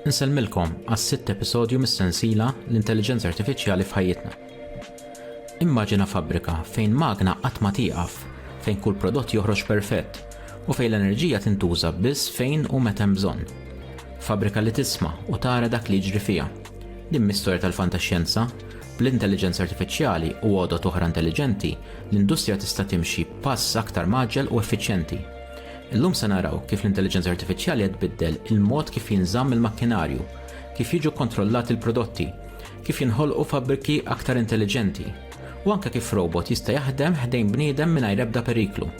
Insellmilkom għas-sitt episodju mis-sensiela L-Intelliġenza Artifiċjali f'Ħajjitna. Immaġina fabbrika fejn magna qatt ma tieqaf, fejn kull prodott joħroġ perfett, u fejn l-enerġija tintuża biss fejn u meta hemm bżonn. Fabbrika li tisma' u tara dak li jiġri fiha. Din mhi storja tal-fantaxjenza, bl-intelliġenza artifiċjali u għodod oħra intelliġenti, l-industrija tista' timxi b'pass aktar mgħaġġel u effiċjenti. Illum se naraw kif l-intelliġenza artifiċjali qed tbiddel il-mod kif jinżamm il-makkinarju, kif jiġu kontrollati l-prodotti, kif jinħolqu fabbriki aktar intelliġenti, u anke kif robot jista' jaħdem ħdejn bniedem mingħajr ebda periklu.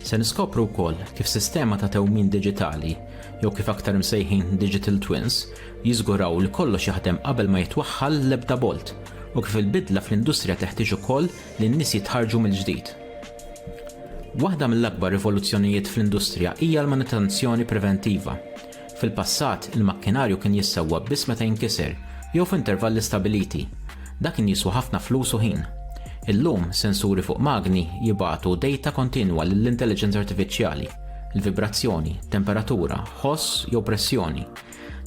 Se niskopru wkoll kif sistema ta' tewmin diġitali, jew kif aktar imsejħin digital twins, jiżguraw li kollox jaħdem qabel ma jitwaħħal l-ebda bolt, u kif il-bidla fl-industrija teħtieġ ukoll li n-nies jitħarrġu mill-ġdid. Waħda mill-akbar rivoluzzjonijiet fl-industrija hija l-manutenzjoni preventiva. Fil-passat, il-makkinarju kien jissewwa biss meta jinkiser jew f'intervalli stabbiliti. Dak kien jiswa ħafna flus u ħin. Illum, sensuri fuq magni jibagħtu dejta kontinwa lill-intelliġenza artifiċjali, il-vibrazzjoni, temperatura, ħoss jew pressjoni.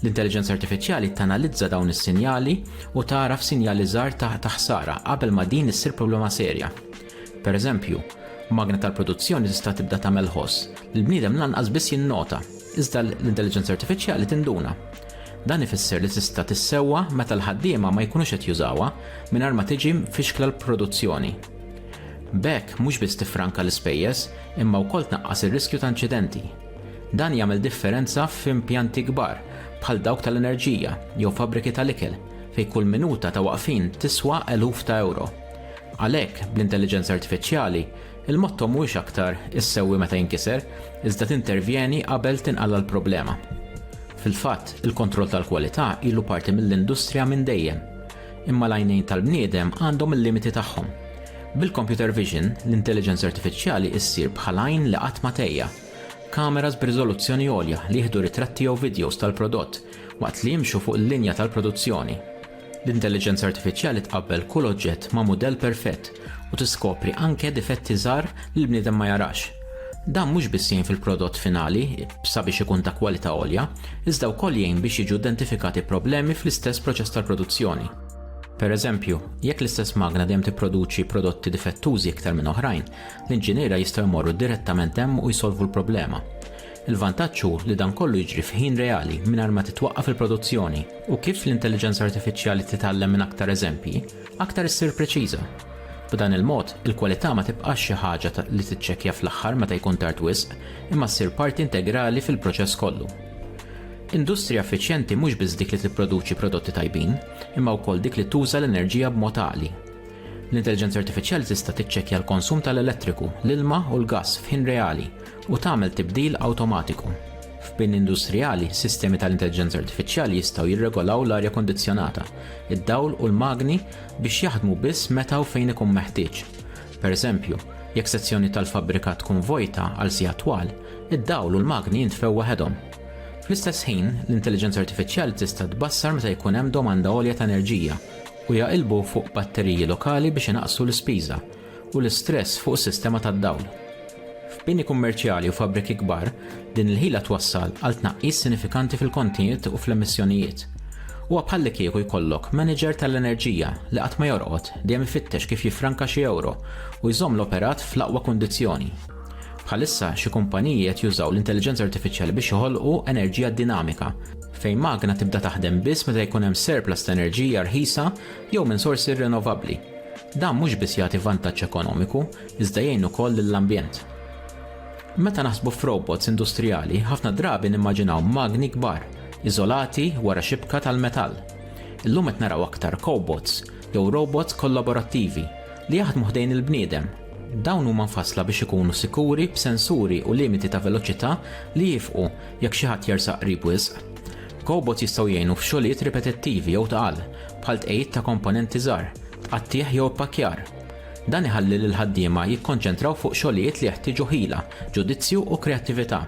L-intelliġenza artifiċjali tanalizza dawn is-sinjali u tagħraf sinjali żgħar ta' ħsara qabel ma din issir problema serja. Pereżempju, magna tal-produzzjoni tista' tibda tagħmel ħoss li l-bniedem lanqas biss jinnota, iżda l-intelliġenza artifiċjali tinduna. Dan ifisser li tista' tissewwa meta l-ħaddiema ma jkunux qed jużawha mingħajr ma tiġi mfixkla l-produzzjoni. B'hekk mhux biss tiffranka l-ispejjeż imma wkoll tnaqqas ir-riskju ta' inċidenti. Dan jagħmel differenza f'impjanti kbar bħal dawk tal-enerġija jew fabbriki tal-ikel fejn kull minuta ta' waqfien tiswa eluf ta' ewro. Għalhekk, bl-intelliġenza artifiċjali, il-motto mhuwiex aktar issewwi meta jinkiser, iżda tintervjeni qabel tinqala' l-problema. Fil-fatt, il-kontroll tal-kwalità ilu parti mill-industrija minn dejjem. Imma l-għajnejn tal-bniedem għandhom il-limiti tagħhom. Bil-computer vision, l-intelliġenza artifiċjali issir bħal għajn li qatt ma tgħejja. Kameras b'riżoluzzjoni għolja li jieħdu ritratti jew vidjows tal-prodott waqt li jimxu fuq il-linja tal-produzzjoni. L-intelliġenza artifiċjali tqabbel kull oġġett ma' mudell perfett u tiskopri anke difetti żgħar li l-bniedem ma jarax. Dan mhux biss jgħin fil-prodott finali sabiex ikun ta' kwalità għolja, iżda wkoll jgħin biex jiġu identifikati problemi fl-istess proċess tal-produzzjoni. Pereżempju, jekk l-istess magna dejjem tipproduċi prodotti difettużi iktar minn oħrajn, l-inġiniera jistgħu jmorru direttament hemm u jsolvu l-problema. Il-vantaġġ hu li dan kollu jiġri f'ħin reali mingħajr ma titwaqqaf il-produzzjoni u kif l-intelliġenza artifiċjali titgħallem minn aktar eżempji, aktar issir preċiża. B'dan il-mod, il-kwalità ma tibqax xi ħaġa li tiċċekkja fl-aħħar meta jkun tard wisq, imma ssir parti integrali fil-proċess kollu. Industrija effiċjenti mhux biss dik li tipproduċi prodotti tajbin, imma wkoll dik li tuża l-enerġija b'mod għaqli. L-intelliġenza artifiċjali tista' tiċċekkja l-konsum tal-elettriku, l-ilma u l-gass f'ħin reali u tagħmel tibdil awtomatiku. F'bini industrijali, sistemi tal-intelliġenza artifiċjali jistgħu jirregolaw l-arja kondizzjonata, id-dawl u l-magni biex jaħdmu biss meta u fejn ikun meħtieġ. Pereżempju, jekk sezzjoni tal-fabbrika tkun vojta għal siegħat twal, id-dawl u l-magni jintfew waħedhom. Fl-istess ħin, l-intelliġenza artifiċjali tista' tbassar meta jkun hemm domanda għolja ta' enerġija u jaqilbu fuq batteriji lokali biex inaqqsu l-ispiża, u l-istress fuq is-sistema tad-dawl. F'bini kummerċjali u fabbriki kbar, din il-ħila twassal għal tnaqqis sinifikanti fil-kontijiet u fl-emissjonijiet. Huwa bħallikieku jkollok maniġer tal-enerġija li qatt ma jorqod, dejjem ifittex kif jiffranka xi ewro u jżomm l-operat fl-aqwa kundizzjoni. Bħalissa, xi kumpaniji qed jużaw l-intelliġenza artifiċjali biex joħolqu enerġija dinamika, fejn magna tibda taħdem biss meta jkun hemm surplus ta' enerġija rħisa jew minn sorsi rinnovabbli. Dan mhux biss jagħti vantaġġ ekonomiku, iżda jgħin ukoll lill-ambjent. Meta naħsbu f'robots industrijali, ħafna drabi nimmaġinaw magni kbar, iżolati wara xibka tal-metall. Illum qed naraw aktar cobots, jew robots kollaborattivi, li jaħdmu ħdejn il-bniedem. Dawn huma mfassla biex ikunu sikuri b'sensuri u limiti ta' veloċità li jifqu jekk xi ħadd jersaq qrib wisq. Kobots jistgħu jgħinu f'xogħlijiet ripetittivi jew tqal, bħal tqegħid ta' komponenti żgħar, tqattigħ jew ippakkjar. Dan iħalli lill-ħaddiema jikkonċentraw fuq xogħlijiet li jeħtieġu ħila, ġudizzju u kreattività.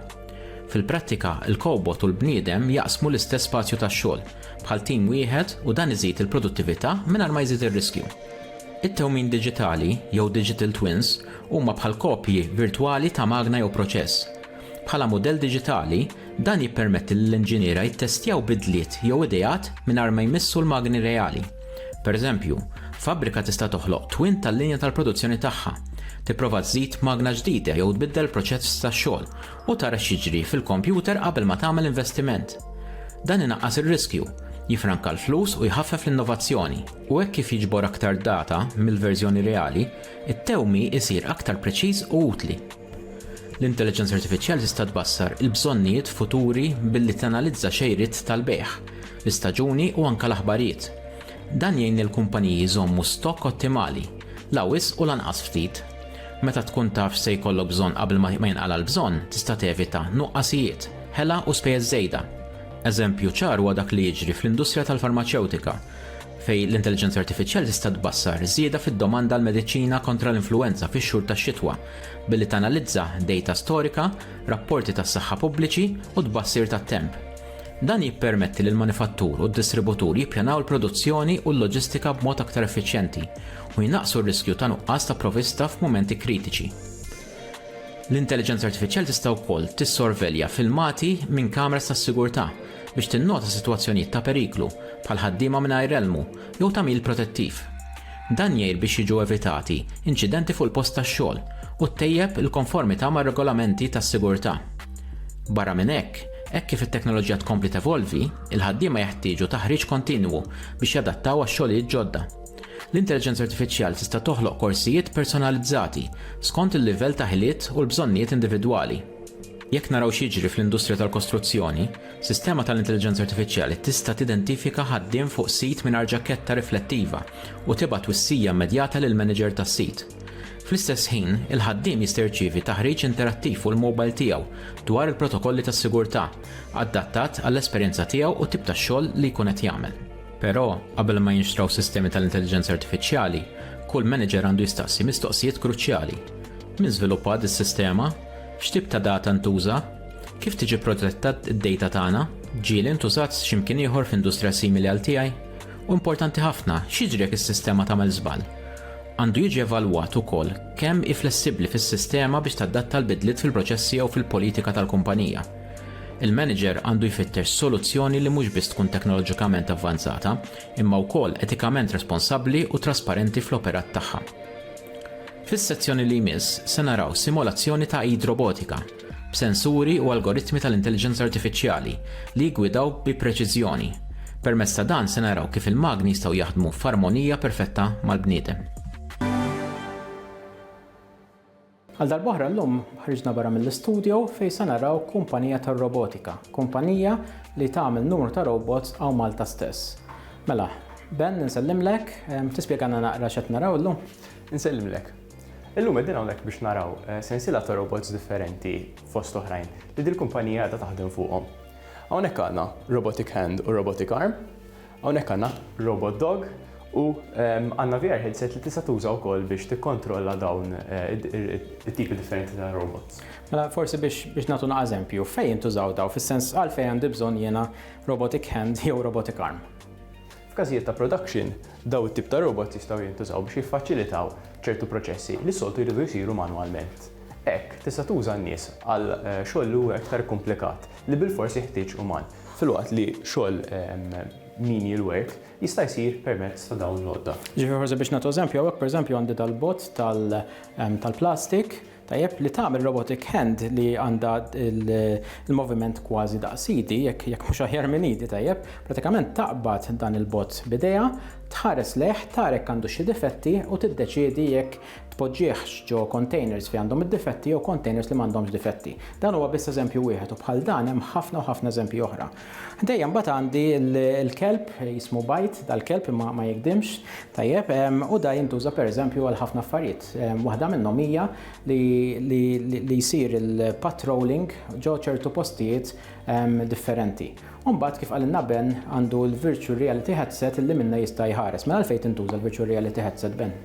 Fil-prattika, il-kobot u l-bniedem jaqsmu l-istess spazju tax-xogħol, bħal tim wieħed u dan iżid il-produttività mingħajr ma jżid ir-riskju. It-tewmin diġitali, jew digital twins, huma bħal kopji virtwali ta' magna jew proċess. Bħala mudell diġitali, dan jippermetti lill-inġiniera jittestjaw bidliet jew ideat mingħajr ma jmissu l-magni reali. Pereżempju, fabbrika tista' toħloq twin tal-linja tal-produzzjoni tagħha, tipprova żżid magna ġdida jew tbiddel proċess ta' xogħol u tara x'jiġri fil-kompjuter qabel ma tagħmel investiment. Dan inaqqas ir-riskju, jiffranka l-flus u jħaffef l-innovazzjoni. U hekk kif jiġbor aktar data mill-verżjoni reali, it-tewmi jsir aktar preċiż u utli. L-intelliġenza artifiċjali tista' tbassar il-bżonnijiet futuri billi tanalizza xejriet tal-bejgħ, l-istaġuni u anke l-aħbarijiet. Dan jgħin lill-kumpaniji jżommu stokk ottimali, la wisq u lanqas ftit. Meta tkun taf x'se jkollok bżonn qabel ma jinqala' l-bżonn, tista' tevita nuqqasijiet, ħela u spejjeż żejda. Eżempju ċar huwa dak li jiġri fl-industrija tal-farmaċewtika. fejn l-intelliġenza artifiċjali tista' tbassar żieda fid-domanda għal mediċina kontra l-influwenza fix-xhur tax-xitwa billi tanalizza dejta storika, rapporti tas-saħħa pubbliċi u tbassir tat-temp. Dan jippermetti lill-manifattur u d-distributur jippjanaw il-produzzjoni u l-loġistika b'mod aktar effiċjenti u jnaqqsu r-riskju ta' nuqqas ta' provista f'mumenti kritiċi. L-intelliġenza artifiċjali tista' wkoll tissorvelja filmati minn kameras tas-sigurtà biex tinnota sitwazzjonijiet ta' periklu, bħal ħaddiema mingħajr elmu jew tagħmil protettiv. Dan jgħir biex jiġu evitati inċidenti fuq il-post tax-xogħol u ttejjeb il-konformità mar-regolamenti tas-sigurtà. Barra minn hekk, hekk kif it-teknoloġija tkompli tevolvi, il-ħaddiema jeħtieġu taħriġ kontinwu biex jadattaw għax-xogħlijiet ġodda. L-intelliġenza artifiċjali tista' toħloq korsijiet personalizzati skont il-livell ta' ħiliet u l-bżonnijiet individwali. Jekk naraw x'jiġri fl-industrija tal-kostruzzjoni, sistema tal-intelliġenza artifiċjali tista' tidentifika ħaddiem fuq sit mingħajr ġaketta riflettiva u tibgħat twissija immedjata lill-maniġer tas-sit. Fl-istess ħin, il-ħaddiem jista' jirċievi taħriġ interattiv fuq il-mowbajl tiegħu dwar il-protokolli tas-sigurtà, adattat għall-esperjenza tiegħu u t-tip ta' xogħol li jkun qed jagħmel. Però, qabel ma jinxtraw sistemi tal-intelliġenza artifiċjali, kull manager għandu jistaqsi mistoqsijiet kruċjali. Min żviluppa dis sistema X'tip ta' data ntuża? Kif tiġi protetta d-data tagħna? Ġieli ntużat x'imkien ieħor f'industrija simili għal tiegħi? U importanti ħafna, x'jiġri jekk is-sistema tagħmel żball? Għandu jiġi evalwat ukoll kemm hi flessibbli fis-sistema biex tadatta l-bidliet fil-proċessi jew fil-politika tal-kumpanija. Il-manager għandu jfittex soluzzjoni li mhux biss tkun teknoloġikament avvanzata, imma wkoll etikament responsabbli u trasparenti fl-operat tagħha. Fis-sezzjoni li jmiss se naraw simulazzjoni ta' id robotika, b'sensuri u algoritmi tal-intelliġenza artifiċjali li jiggwidaw bi preċiżjoni. Permezz ta' dan se naraw kif il-magni jistgħu jaħdmu f'armonija perfetta mal-bniedem. Għal darb'oħra llum ħriġna barra mill-istudio fejn se naraw kumpanija tar-robotika, kumpanija li tagħmel numru ta' robots hawn Malta stess. Mela, Ben insellimlek, tispjegalna naqra x'qed naraw llum? Insellimlek. Illum qegħdin hawnhekk biex naraw sensiela ta' robots differenti fost oħrajn li dil-kumpanija qiegħda taħdem fuqhom. Hawnhekk għandna robotic hand u robotic arm. Hawnhekk għandna robot dog u għandna VR headset li tista' tuża wkoll biex tikkontrolla dawn it-tipi differenti ta' robots. Mela forsi biex biex nagħtu naqra eżempju, fejn jintużaw dawn fis-sens għalfejn għandi bżonn jiena robotic hand jew robotic arm? F'każijiet ta' production, dawn it-tip ta' robots jistgħu jintużaw biex jiffaċilitaw ċertu proċessi li s-soltu jridu jsiru manwalment. Hekk, tista' tuża n-nies għal xogħol li huwa iktar ikkumplikat, li bilfors jeħtieġ uman. filwaqt li xogħol menial work jista' jsir permezz ta' dawn l-għodda. Ġifieri forsi biex nagħtu eżempju, hawnhekk pereżempju għandi dal-bot tal-plastik, tajjeb, li tagħmel robotic hand li għandha l-moviment kważi daqs idi, jekk mhux aħjar minn idi, tajjeb, prattikament taqbad dan il-bot b'idejha, tħares lejh, tara jekk għandu xi difetti u tiddeċiedi jekk tpoġġihx ġo kontejners fejn għandhom id-difetti jew kontejners li m'għandhomx difetti. Dan huwa biss eżempju wieħed u bħal dan hemm ħafna u ħafna eżempji oħra. Ħdejja mbagħad għandi l-kelb jismu bajt, dal-kelb imma ma jikdimx, tajjeb, u da jintuża pereżempju għal ħafna affarijiet. Waħda minnhom hija li jsir il-patrolling ġo ċertu postijiet differenti. Umbat kif għalinna Ben għandu l-Virtual Reality Headset li minna jista' jħares. Mela għalfejn tintuża l-Virtual Reality Headset Ben?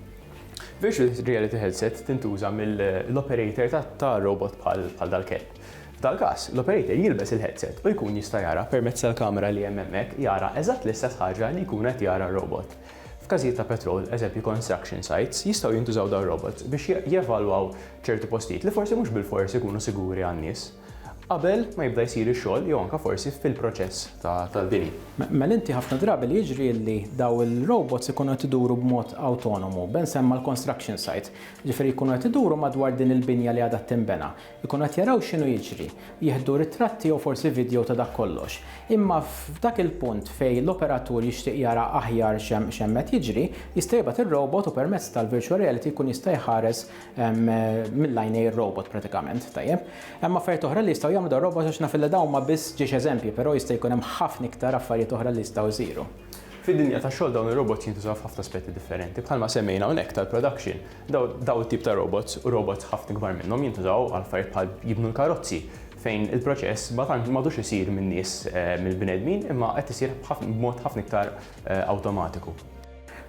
Virtual Reality Headset tintuża mill-operator ta' robot bħal dal-kelb. F'dal-każ, l-operator jilbes il-headset u jkun jista' jara permezz tal-kamera li hemm hemmhekk jara eżatt l-istess ħaġa li jkun qed jara r-robot. F'każijiet ta' petrol, eżempju construction sites, jistgħu jintużaw dawn ir-robots biex jevalwaw ċertu postijiet li forsi mhux bilfors ikunu siguri għan-nies. qabel ma jibda jsir ix-xogħol jew anke forsi fil-proċess tal-bini. Mela inti ħafna drabi li jiġri li dawn il-robots ikunu qed iduru b'mod awtonomu, Ben semma l-construction site, jiġifieri jkunu qed iduru madwar din il-binja li għadha tinbena, ikunu qed jaraw x'inhu jiġri, jieħdu ritratti jew forsi vidjow ta' dak kollox. Imma f'dak il-punt fejn l-operatur jixtieq jara aħjar x'hemm qed jiġri, jista' jibgħat ir-robot u permezz tal-virtual reality jkun jista' jħares mill-għajnej ir-robot pratikament, tajjeb. Hemm affarijiet oħra li jistgħu jagħmlu dar-robot għax naf li dawn huma biss ġiex eżempji, però jista' jkun hemm ħafna iktar affarijiet oħra li jistgħu jsiru. Fid-dinja tax-xogħol dawn ir-robots jintużaw f'ħafna aspetti differenti. Bħalma semmejna hawnhekk tal-production, dawn it-tip ta' robots u robots ħafna ikbar minnhom jintużaw għal affarijiet bħal jibnu l-karozzi fejn il-proċess ma tantx m'għadux isir min-nies, mill-bnedmin, imma qed isir b'mod ħafna iktar awtomatiku.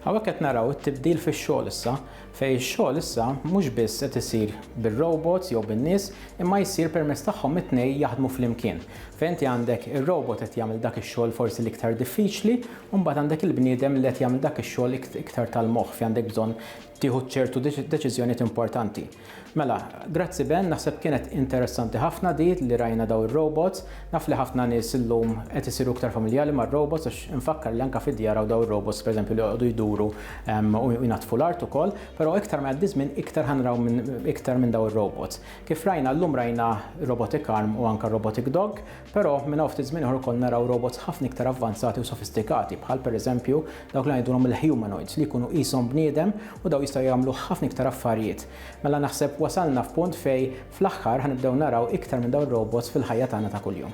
Hawnhekk qed naraw it-tibdil fix-xogħol issa, fejn ix-xogħol issa mhux biss qed isir bir-robots jew bin-nies, imma jsir permezz tagħhom it-tnejn jaħdmu flimkien. Fejn inti għandek ir-robot qed jagħmel dak ix-xogħol forsi l-iktar diffiċli, u mbagħad għandek il-bniedem li qed jagħmel dak ix-xogħol iktar tal-moħħ fejn għandek bżonn tieħu ċertu deċiżjonijiet importanti. Mela, grazzi Ben, naħseb kienet interessanti ħafna di li rajna daw ir-robots. Naf li ħafna nies illum qed isiru iktar familjali mar-robots għax infakkar li anke fid-djar hawn daw ir-robots pereżempju li joqogħdu jduru ehm, u jnaddfu l-art ukoll, però iktar ma jgħaddi żmien iktar ħanraw iktar minn daw ir-robots. Kif rajna llum rajna robotic arm u anke robotic dog, Però, minn hawn ftit żmien ieħor ukoll naraw robots ħafna iktar avvanzati u sofistikati, bħal pereżempju dawk li ngħidulhom il-humanoids, li jkunu qishom bniedem u dawn jistgħu jagħmlu ħafna iktar affarijiet. Mela naħseb wasalna f'punt fejn fl-aħħar ħa nibdew naraw iktar minn dawn ir-robots fil-ħajja tagħna ta' kuljum.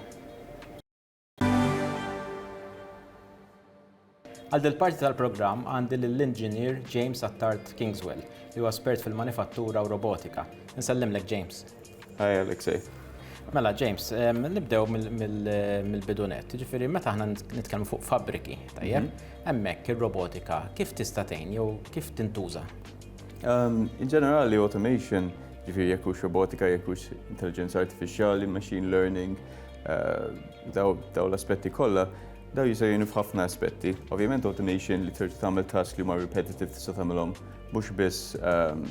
Għal dil-parti tal-programm għandi lill-Inġinier James Attard Kingswell, li huwa spert fil-manifattura u robotika. Insellimlek James. Hi Alexei. Mela James, nibdew mill-bidu nett. Jiġifieri meta aħna nitkellmu fuq fabbriki, tajjeb? Hemmhekk ir-robotika kif tista' tgħin jew kif tintuża? In ġenerali automation, jiġifieri jekk hux robotika, jekk hux intelliġenza artifiċjali, machine learning, dawn l-aspetti kollha, Dawn jistgħu jgħinu f'ħafna aspetti. Ovvjament automation li trid tagħmel task li huma repetitive tista' tagħmilhom mhux biss ehm,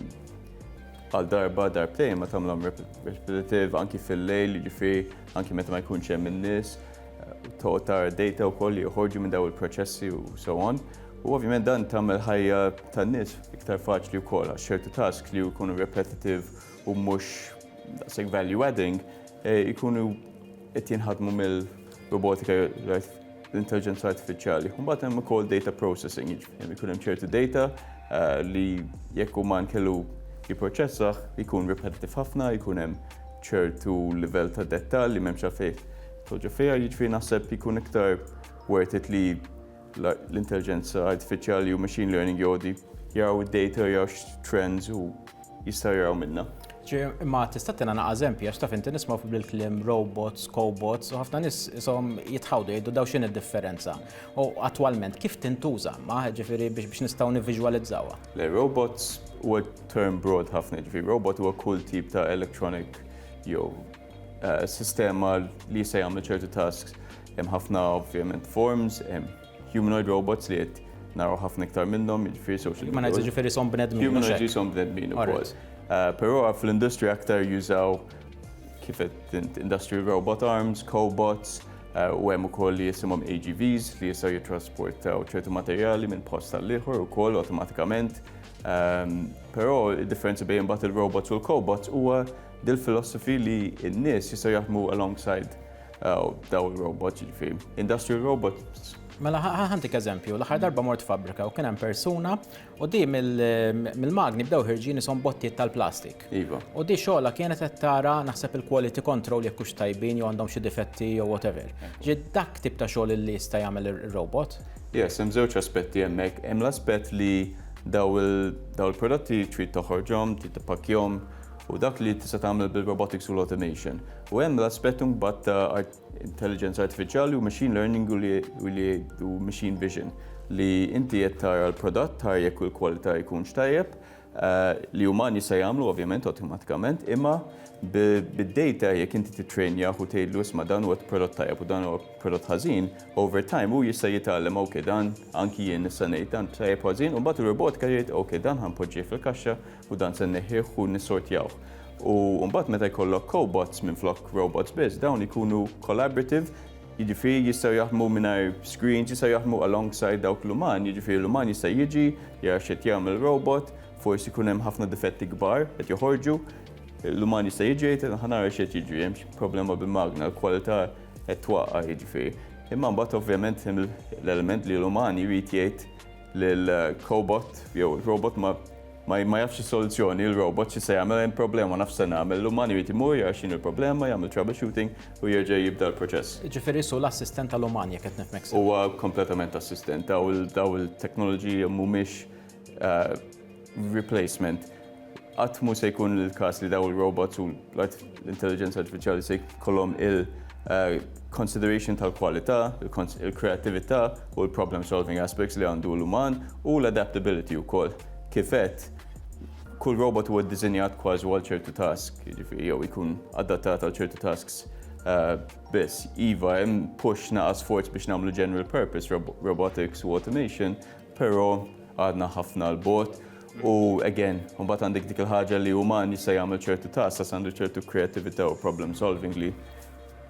għal darba darbtejn ma tagħmilhom repetitive anki fil-lejl, jiġifieri anki meta ma jkunx hemm in-nies, eh, toqgħod tara data wkoll li joħorġu minn daw il-proċessi u so on. U ovvjament dan tagħmel ħajja tan-nies iktar faċli wkoll għax ċertu task li jkunu repetitive u mhux daqshekk value adding eh, ikunu Qed jinħadmu mill-robotika l-intelligenza artifiċjali. Mbagħad hemm ukoll data processing, jiġifieri jkun hemm ċertu data eh, li jekk huma nkellu jipproċessaħ jkun repetitive ħafna, jkun hemm ċertu livell ta' dettall li m'hemmx għalfejn toġġa fiha, jiġifieri naħseb jkun iktar worth it li l-intelliġenza artifiċjali u machine learning jgħodi jaraw id-data, jaraw x-trends u jistaw jaraw minna. Ġi, imma tista' tina naqa' eżempji, għax taf inti nisma' fuq bil-klim robots, cobots, u ħafna nis isom jitħawdu jgħidu daw x'in id-differenza. U attwalment kif tintuża ma ġifieri biex biex nistgħu nivviġwalizzawha? Le, robots huwa term broad ħafna, ġifieri robot huwa kull tip ta' electronic jew Eh, sistema li jista' jagħmlu ċertu tasks hemm ħafna ovvjament forms, hemm humanoid robots li qed naraw ħafna iktar minnhom, jiġifieri social media. Humanoid jiġifieri som bnedmin. Humanoid jisom bnedmin ukoll. Eh, però fl-industrija aktar jużaw kif qed industry robot arms, cobots, eh, u hemm ukoll li jisimhom AGVs li jistgħu jittrasportaw ċertu materjali minn post tal-ieħor ukoll awtomatikament. Ehm, però id-differenza bejn imbagħad il-robots u l-cobots huwa Dil philosophy li n-nies jistgħu jaħdmu alongside daw il-robots, ġifieri industrial robots. Mela ħantik eżempju, l-aħħar darba mort fabbrika u kien hemm persuna u di mill-magni bdew ħirġin isom bottiet tal-plastik. Iva. U di xogħla kienet qed tara naħseb il-quality control jekk hux tajbin jew għandhom xi difetti jew whatever. Ġi dak tip ta' xogħol li jista' jagħmel ir-robot. Yes, hemm żewġ aspetti hemmhekk. Hemm l-aspett li daw il-prodotti trid toħorġhom, trid tippakkjhom, u dak li tista' tagħmel bil-robotics u l-automation. U hemm l-aspett imbagħad ta' intelligence artifiċjali u machine learning u li u machine vision li inti qed tara l-prodott tara jekk il-kwalità jkunx tajjeb eh, li umani se jagħmlu ovvjament awtomatikament imma bid-data jekk inti titrejnjah u tgħidlu isma' dan huwa prodott tajjeb u dan huwa prodott ħażin, over time hu jista' jitgħallem ok dan anki jien nista' ngħid dan tajjeb ħażin u mbagħad ir-robotika jgħid ok dan ħanpoġġih fil-kaxxa u dan se nneħħih u nissortjawh. U mbagħad meta jkollok cobots minflok robots biss, dawn ikunu collaborative, jiġifieri jistgħu jaħdmu mingħajr screens, jistgħu jaħdmu alongside dawk l-uman, jiġifieri l-uman jista' jiġi jara x'qed jagħmel robot, forsi jkun hemm ħafna difetti kbar qed joħorġu, l-uman jista' jiġi jgħid ħa nara x'qed jiġri, hemm xi problema bil-magna, l-kwalità qed twaqqa' jiġifieri. Imma mbagħad ovvjament hemm l-element li l-uman jrid jgħid li l-cobot jew robot ma ma ma jafx is-soluzzjoni, il-robot xi se jagħmel hemm problema nafx se nagħmel, l-uman jrid imur jara x'inhu l-problema, jagħmel troubleshooting u jerġa' jibda l-proċess. Jiġifieri su l-assistent tal-uman jekk qed nifhmek sew. Huwa kompletament assistent, daw il-teknoloġiji mhumiex eh, replacement. Qatt mhu se jkun il-każ li daw il-robots u l-intelligenza artifiċjali se jkollhom il-consideration eh, tal-kwalità, il-kreatività u l-problem solving aspects li għandu l-uman u l-adaptability wkoll. Kifet, kull robot huwa ddisinjat kważi għal ċertu task, jiġifieri jew ikun adattat għal ċertu tasks eh, biss. Iva, hemm push naqas forz biex nagħmlu general purpose robotics u automation, Però għadna ħafna 'l bogħod u again, imbagħad għandek dik il-ħaġa li uman jista' jagħmel ċertu tasks għax għandu ċertu kreattività u problem solving li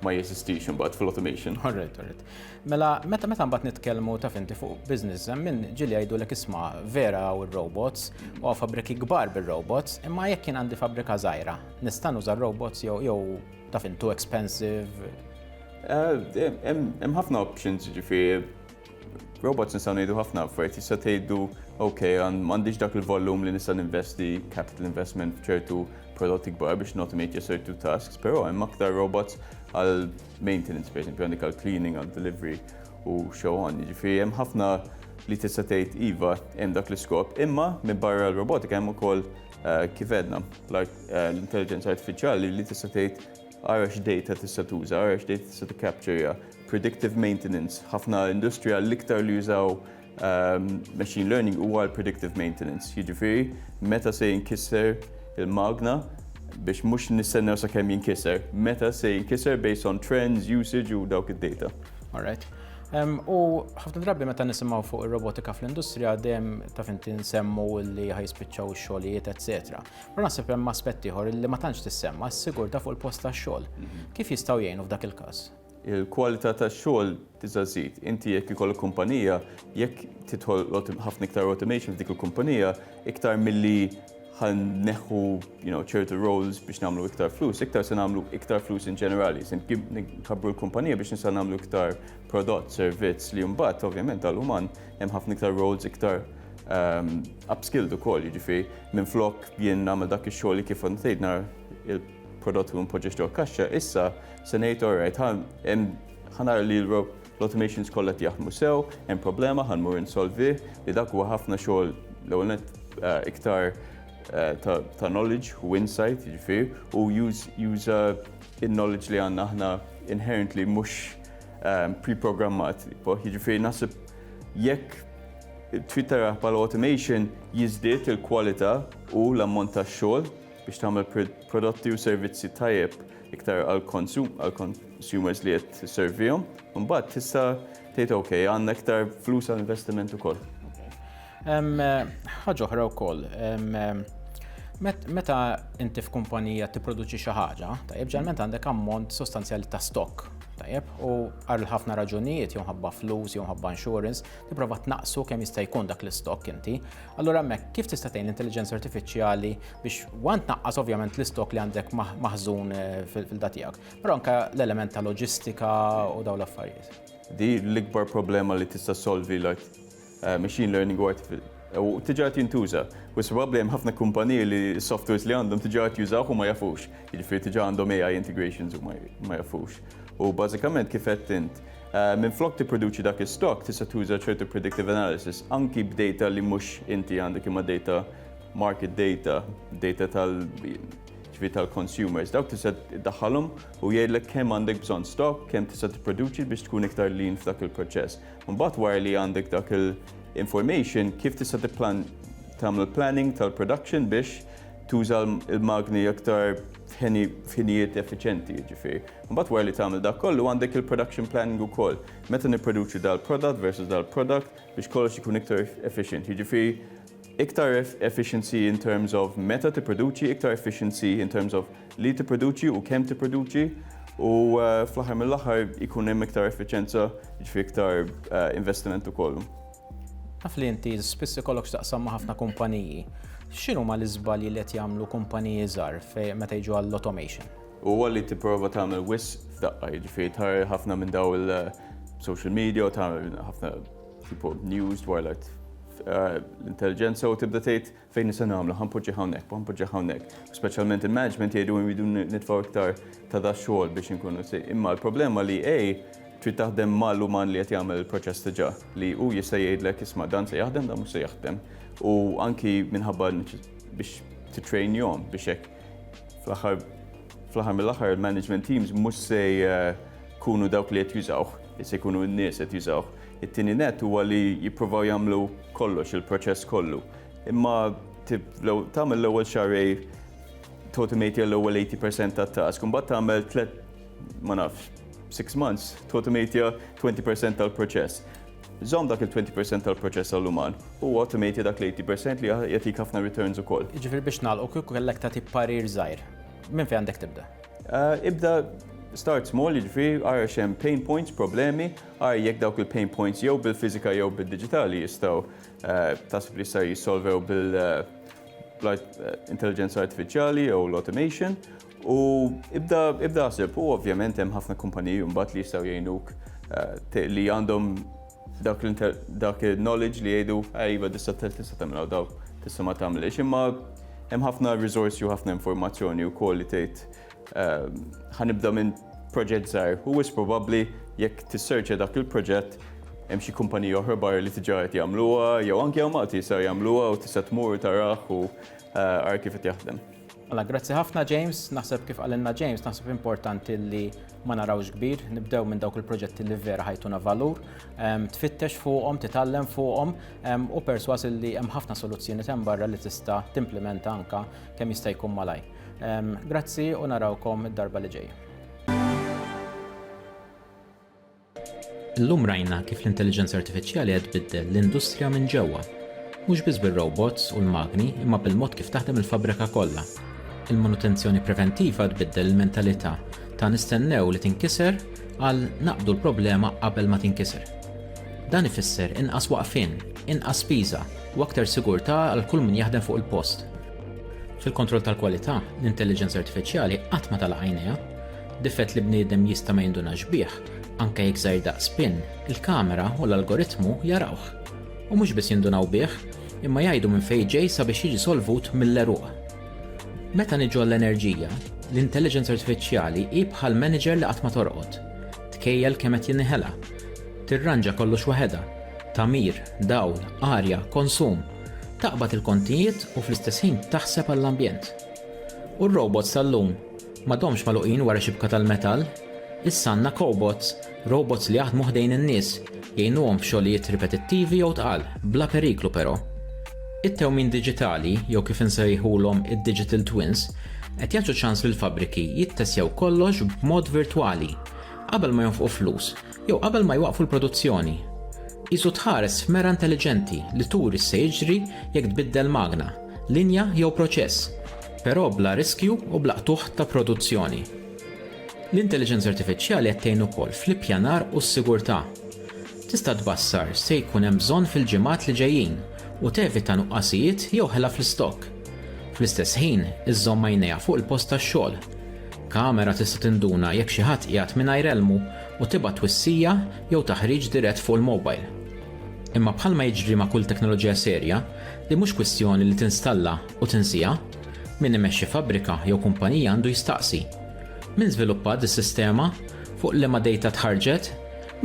ma jeżistix imbagħad fil-automation. Alright, alright. Mela, meta meta mbagħad nitkellmu taf inti fuq business, hemm min ġieli jgħidulek isma' vera u r-robots u fabbriki kbar bir-robots, imma jekk jien għandi fabbrika żgħira, nista' nuża r-robots jew jew taf int too expensive? Eh, Hemm ħafna options ġifieri Robots nistgħu ngħidu ħafna affarijiet, tista' tgħidu ok, m'għandix dak il-volum li nista' ninvesti capital investment f'ċertu prodotti kbar biex notomate ja certu tasks, però hemm aktar robots għal maintenance, per esempio, għandek għal cleaning, għal delivery u so on. Ġifieri hemm ħafna li tista' tgħid iva hemm dak l-iskop, imma minn barra l-robotika hemm ukoll eh, kif edna eh, l-intelligenza artifiċjali li tista' tgħid Ara x'dejta tista' tuża, ara x'dejta tista' tikkaptira, predictive maintenance, ħafna industrija l-iktar li jużaw machine learning huwa l-predictive maintenance, jiġifieri meta se jinkisser il-magna biex mhux nistennew sakemm jinkisser, meta se jinkisser based on trends, usage u dawk id-dejta. All right. U ħafna drabi meta nisimgħu fuq ir-robotika fl-industrija dejjem taf inti nsemmu li ħa jispiċċaw ix-xogħlijiet, etc. Però naħseb hemm aspett ieħor li ma tantx tissemma s-sigurtà fuq il-post tax-xogħol. Kif jistgħu jgħinu f'dak il-każ? Il-kwalità tax-xogħol tista' żżid. Inti jekk ikollok kumpanija, jekk tidħol ħafna iktar automation f'dik il-kumpanija, iktar milli ħa neħħu ċertu roles biex nagħmlu iktar flus, iktar se nagħmlu iktar flus in ġenerali. Se nkabbru l-kumpanija biex nista' nagħmlu iktar prodott, servizz li mbagħad ovvjament għall-uman hemm ħafna iktar roles iktar ehm, upskilled ukoll, jiġifieri minn flok jien nagħmel dak ix-xogħol li kif ntejt nar il-prodott u npoġġiex ġol kaxxa, issa se ngħid alright, ħanar li l-automations kollha jaħdmu sew, hemm problema ħanmur insolvi li dak huwa ħafna xogħol l-ewwel eh, iktar Eh, ta' knowledge u insight, ġifir, u juża il-knowledge li għanna ħna inherently mux pre-programmat, jiġifieri naħseb jekk trid taraha bħala automation jiżdied il-kwalità u l-ammont ta' xogħol biex tagħmel prodotti u servizzi tajjeb iktar għall-consumers li qed tisservihom. Imbagħad tista' tgħid ok, għandna iktar flus għall-investiment ukoll. Ħaġa oħra wkoll, meta inti f'kumpanija tipproduċi xi ħaġa, tajjeb ġalment għandek ammont sostanzjali ta' stock, tajjeb, u għal ħafna raġunijiet jew ħabba flus jew ħabba insurance, tipprova tnaqsu kemm jista' jkun dak l-istock inti. Allura hemmhekk kif tista' tgħin l-intelligenza artifiċjali biex wan tnaqqas ovvjament l-istock li għandek maħżun eh, fil-da tiegħek, però anke l-element ta' loġistika u dawn l-affarijiet. Di l-ikbar problema li tista' solvi like machine learning u artificial u tiġa qed jintuża. U probabbli hemm ħafna kumpaniji li s-softwares li għandhom tiġa qed jużawh u ma jafux. Jiġifieri tiġa għandhom AI integrations u ma jafux. U bażikament kif qed int, eh, minn flok tipproduċi dak is-stock tista' tuża ċertu predictive analysis anki b'data li mhux inti għandek imma data market data, data tal ġifieri tal-consumers. Dawk tista' daħħalhom u jgħidlek kemm għandek bżonn stock, kemm tista' tipproduċi biex tkun iktar lean f'dak il-proċess. Mbagħad wara li għandek dak il-information kif tista' tipplan tagħmel planning tal-production biex tuża l-magni aktar f'ħinijiet effiċenti, jiġifieri. Mbagħad wara li tagħmel dak kollu għandek il-production planning ukoll. Meta nipproduċu dal-prodott versus dal-product biex kollox ikun iktar efficient. Jiġifieri Iktar efficiency in terms of meta tipproduċi, iktar efficiency in terms of li tipproduċi u kemm tipproduċi, u fl-aħħar mill-aħħar ikun hemm iktar effiċjenza, jiġifieri iktar investiment ukoll. Naf li inti spiss ikollok x'taqsam ma' ħafna kumpaniji. X'inhuma l-iżbalji li qed jagħmlu kumpaniji żgħar meta jiġu għall-automation? Huwa li tipprova tagħmel wisq f'daqqa, jiġifieri tħarr ħafna minn dawn il-social media u tagħmel ħafna. Tipo news dwar l-art eh, l-intelligenza u tibda tgħid fejn nisa nagħmlu ħanpoġġi hawnhekk, ħanpoġġi hawnhekk. Speċjalment il-management jgħidu jridu nitfgħu iktar ta' da xogħol biex inkunu si. Imma l-problema li ej trid taħdem mal-uman li qed jagħmel il-proċess diġà li hu jista' jgħidlek isma' dan se jaħdem dan mhux se jaħdem. U anki minħabba biex titrainjhom biex hekk fl-aħħar Fl-aħħar mill-aħħar il-management teams mhux se jkunu dawk li qed jużawh, se jkunu n-nies qed jużawh. It-tieni net huwa li jippruvaw jagħmlu kollox il-proċess kollu. Imma tagħmel l-ewwel xarej tautomate l-ewwel 80% tat-task, imbagħad tagħmel tliet ma nafx, six months tautomate 20% tal-proċess. Żomm dak il-20 percent tal-proċess għall-uman u automate dak l-80 percent li jagħtik ħafna returns ukoll. Jiġifieri biex nagħlqu kieku kellek tagħti parir żgħir, minn fejn għandek tibda? Ibda start small, jiġifieri ara x'hemm pain points, problemi, ara jekk dawk il-pain points jew bil-fiżika jew bid-diġitali jistgħu taħseb li jistgħu jissolvew bil-intelliġenza artifiċjali jew l-automation. U ibda ibda ħsib, u ovvjament hemm ħafna kumpaniji mbagħad li jistgħu jgħinuk eh, li għandhom dak dak il-knowledge li jgħidu iva tista' tista' tagħmilha daw tista' ma tagħmilx, imma hemm ħafna risorsi u ħafna informazzjoni wkoll li tgħid eh, ħanibda minn proġett żgħir. U wis probabbli jekk tisserċja dak il-proġett hemm xi kumpanija oħra barra li tiġa qed jagħmluha jew anke hawn Malti jistgħu jagħmluha u tista' tmur taraħ u eh, ara kif qed jaħdem. Mela grazzi ħafna James, naħseb kif qalilna James, naħseb importanti li ma narawx kbir, nibdew minn dawk il-proġetti li vera ħajtuna valur, ehm, tfittex fuqhom, titgħallem fuqhom ehm, u perswas li hemm ħafna soluzzjoni hemm barra li tista' timplementa anka kemm jista' jkun malaj. Ehm, grazzi u narawkom id-darba li ġejja. Illum rajna kif l-intelliġenza artifiċjali qed tbiddel l-industrija minn ġewwa. Mhux biss bir-robots u l-magni imma bil-mod kif taħdem il-fabbrika kollha. Il-manutenzjoni preventiva tbiddel il-mentalità ta' nistennew li tinkiser għal naqbdu l-problema qabel ma tinkiser. Dan ifisser inqas waqfien, inqas spiża u aktar sigurtà għal kull min jaħdem fuq il-post. Fil-kontroll tal-kwalità, l-intelliġenza artifiċjali qatt ma tagħlaq għajnejha. Difett li bniedem jista' ma jindunax bih, anke jekk żgħir daqs pin, il-kamera u l-algoritmu jarawh. U mhux biss jindunaw bih, imma jgħidu minn fejn ġej sabiex jiġi solvut mill-għeruq. Meta niġu għall-enerġija, l-intelliġenza artifiċjali hi bħal manager li qatt ma torqod. Tkejjel kemm qed jinniħela. Tirranġa kollox waħedha, tagħmir, dawl, arja, konsum. Taqbad il-kontijiet u fl-istess ħin taħseb għall-ambjent. U r-robots tal-lum? M'għadhomx magħluqin wara xibka tal-metall. Issa għandna kobots, robots li jaħdmu ħdejn in-nies, jgħinuhom f'xogħlijiet ripetittivi jew tqal, bla periklu però. It-tewmin diġitali, jew kif insejħulhom id-digital twins, qed jagħtu ċans lill-fabbriki jittessjaw kollox b'mod virtwali, qabel ma jonfqu flus jew qabel ma jwaqqfu l-produzzjoni. Qisu tħares f'mera intelliġenti li turi x'se jiġri jekk tbiddel magna, linja jew proċess. però bla riskju u bla qtugħ ta' produzzjoni. L-intelliġenza artifiċjali qed tgħin ukoll fl-ippjanar u s-sigurtà. Tista' tbassar x'se jkun hemm bżonn fil-ġimgħat li ġejjin u tevita nuqqasijiet jew ħela fl-istokk. Fl-istess ħin, iżżomm għajnejha fuq il-post tax-xogħol. Kamera tista' tinduna jekk xi ħadd qiegħed mingħajr elmu u tibgħat twissija jew taħriġ dirett fuq il-mobile. Imma bħalma jiġri ma' kull teknoloġija serja, din mhux kwistjoni li tinstalla u tinsiha, min imexxi fabbrika jew kumpanija għandu jistaqsi, Min żviluppa dis-sistema? Fuq liema dejta tħarrġet?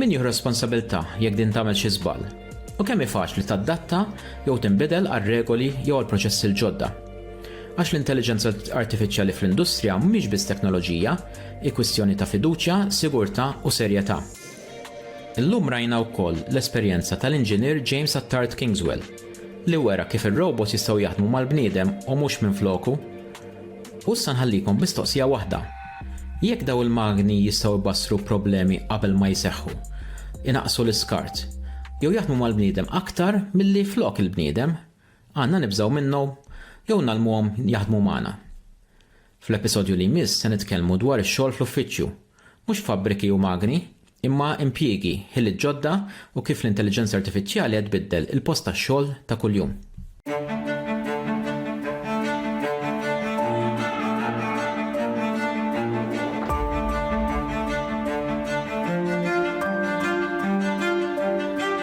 Min jieħu responsabilità jekk din tagħmel xi żball? U kemm hi faċli tadatta jew tinbidel għar-regoli jew għall-proċessi l-ġodda? Għax l-intelliġenza artifiċjali fl-industrija mhix biss teknoloġija, hi kwistjoni ta' fiduċja, sigurtà u serjetà. Illum rajna wkoll l-esperjenza tal-Inġinier James Attard Kingswell, li wera kif ir-robots jistgħu jaħdmu mal-bniedem u mhux minfloku. U issa nħallikom b'mistoqsija waħda. Jekk daw il-magni jistgħu jbassru problemi qabel ma jseħħu, inaqqsu l-iskart, jew jaħdmu mal-bniedem aktar milli flok il-bniedem, għandna nibżgħu minnhom jew ngħallmuhom jaħdmu magħna? Fl-episodju li jmiss se nitkellmu dwar ix-xogħol fl-uffiċċju. Mhux fabbriki u magni, imma impjiegi, ħiliet ġodda u kif l-intelliġenza artifiċjali qed tbiddel il-post tax-xogħol ta' kuljum.